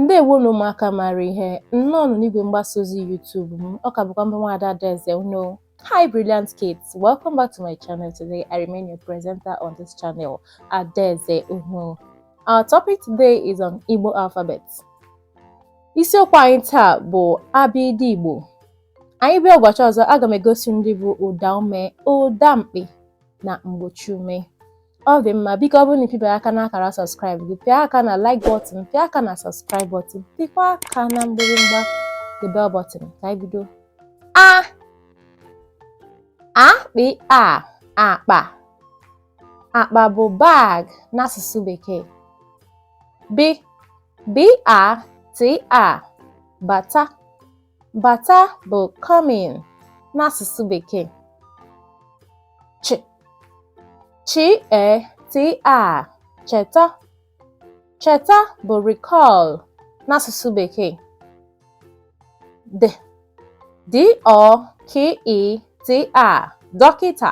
Ndewonu ụmụaka maara ihe, nnọọ nụ n'igwe mgbasa ozi YouTube m, ọ ka bụkwa m bụ nwaada Adaeze unu. Hi brilliant kids, welcome back to my channel today. I remain your presenter on this channel, Adaeze unu. Our topic today is on Igbo alphabet. Isiokwu anyị taa bụ abịdịị Igbo. Anyị bịa ụbọchị ọzọ, aga m egosi ndị bụ ụdaume, ụdamkpị na mgbochiume ọ dị mma biko ọ bụrụ na ị pịbarọ aka n'akara subscribe gị pịa aka na like button pịa aka na subscribe button pịkwa aka na mgbịrịmgba the bell button ka anyị bido a a kp a akpa akpa bụ bag n'asụsụ bekee b b a t a bata Bata bụ come in n'asụsụ Bekee. Ch ch e t a cheta cheta bụ recall n'asụsụ Bekee. D d ọ k ị t a dọkịta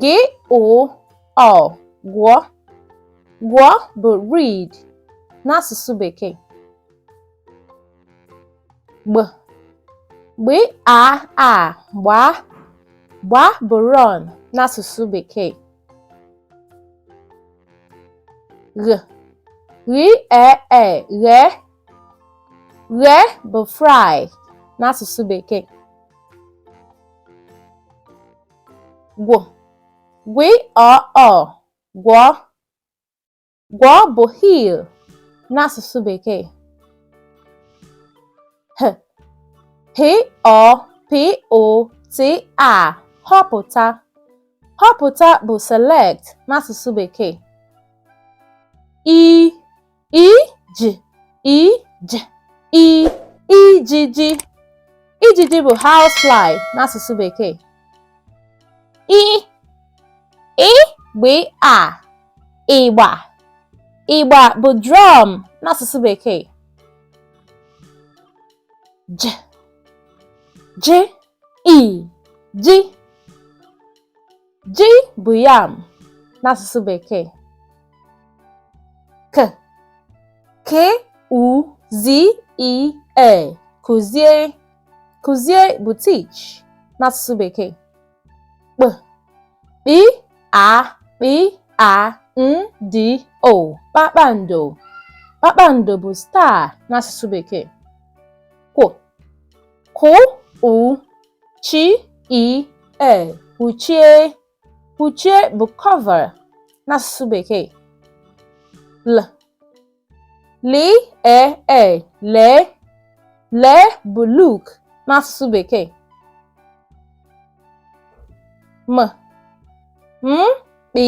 G ụ ọ gụọ gụọ bụ read n'asụsụ bekee. Gb gb a a gbaa gbaa bụ run n'asụsụ bekee. Gh gh e e ghee ghee bụ fry n'asụsụ bekee. gw gw ọ ọ gwọọ gwọọ bụ heal n'asụsụ bekee h h ọ p o t a họpụta họpụta bụ select n'asụsụ bekee i i j i j i ijiji ijiji bụ housefly n'asụsụ bekee ị ị gb a ịgba ịgba bụ drum n'asụsụ bekee j j i ji Ji bụ yam n'asụsụ Bekee. K K Ụ Z I E kụzie kụzie bụ teach n'asụsụ Bekee. Kp KP A KP A N D O kpakpando kpakpando bụ star n'asụsụ Bekee. Kw KW U chi i e kpuchie kpuchie bụ cover n'asụsụ bekee l li e e lee lee bụ look n'asụsụ bekee m m kpi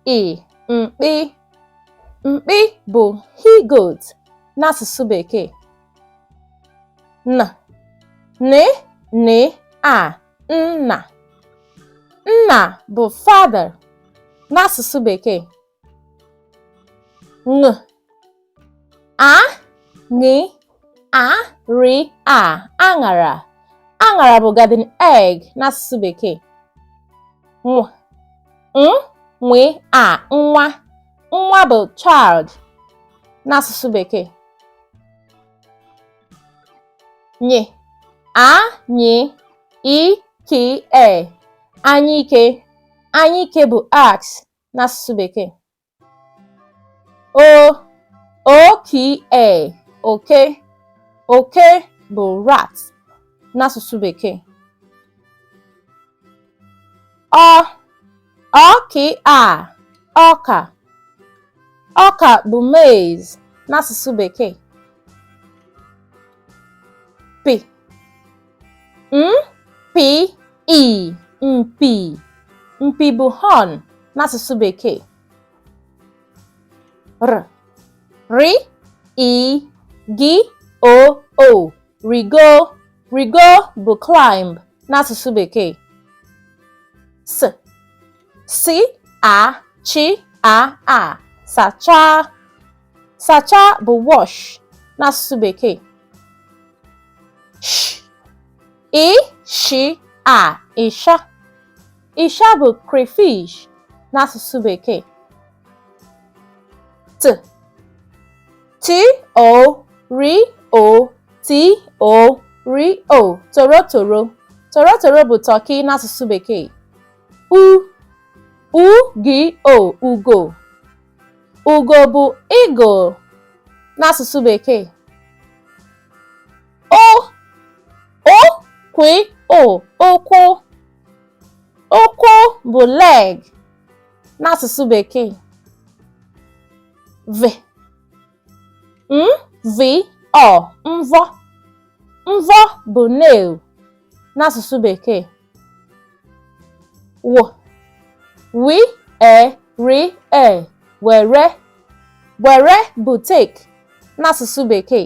i mkpi mkpi bụ he goat n'asụsụ bekee n n n a nna nna bụ father n'asụsụ bekee ṅ a ṅ a ri a aṅara aṅara bụ garden egg n'asụsụ bekee nw n nwe a nwa nwa bụ child n'asụsụ bekee Nyi. A, nyi. I, ki, e. Anyike. Anyike bụ axe n'asụsụ Bekee. O, o, ki, e. Oke. Oke bụ rat n'asụsụ Bekee. ọ ọ kị a ọka ọka bụ maize n'asụsụ bekee p m p i mpi mpi bụ horn n'asụsụ bekee r ri i gi o o rigo rigo bụ climb n'asụsụ bekee s si a chi a a sachaa sachaa bụ wash n'asụsụ bekee sh ị shi a ịsha Ịsha bụ crayfish n'asụsụ Bekee. T T O R O T O R O torotoro torotoro bụ turkey n'asụsụ Bekee. U U G O ugo ugo bụ eagle n'asụsụ Bekee. Ụ Ụ KW Ụ ụkwụ ụkwụ bụ leg n'asụsụ bekee v m v ọ mvọ mvọ bụ nail n'asụsụ bekee w wi e ri e were were bụ take n'asụsụ bekee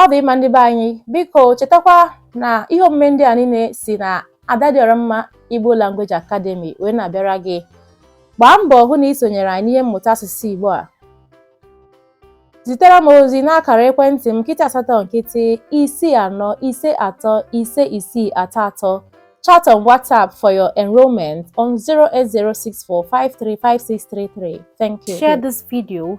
ọ dị mma ndị be anyị biko chetakwa na ihe omume ndị a niile si na Adadịọramma Igbo Language Academy wee na-abịara gị gbaa mbọ hụ na ị sonyere anyị n'ihe mmụta asụsụ Igbo a zitere m ozi n'akara ekwentị m nkịtị asatọ nkịtị isii anọ ise atọ ise isii atọ atọ chat on WhatsApp for your enrollment on 08064535633. Thank you. Share this video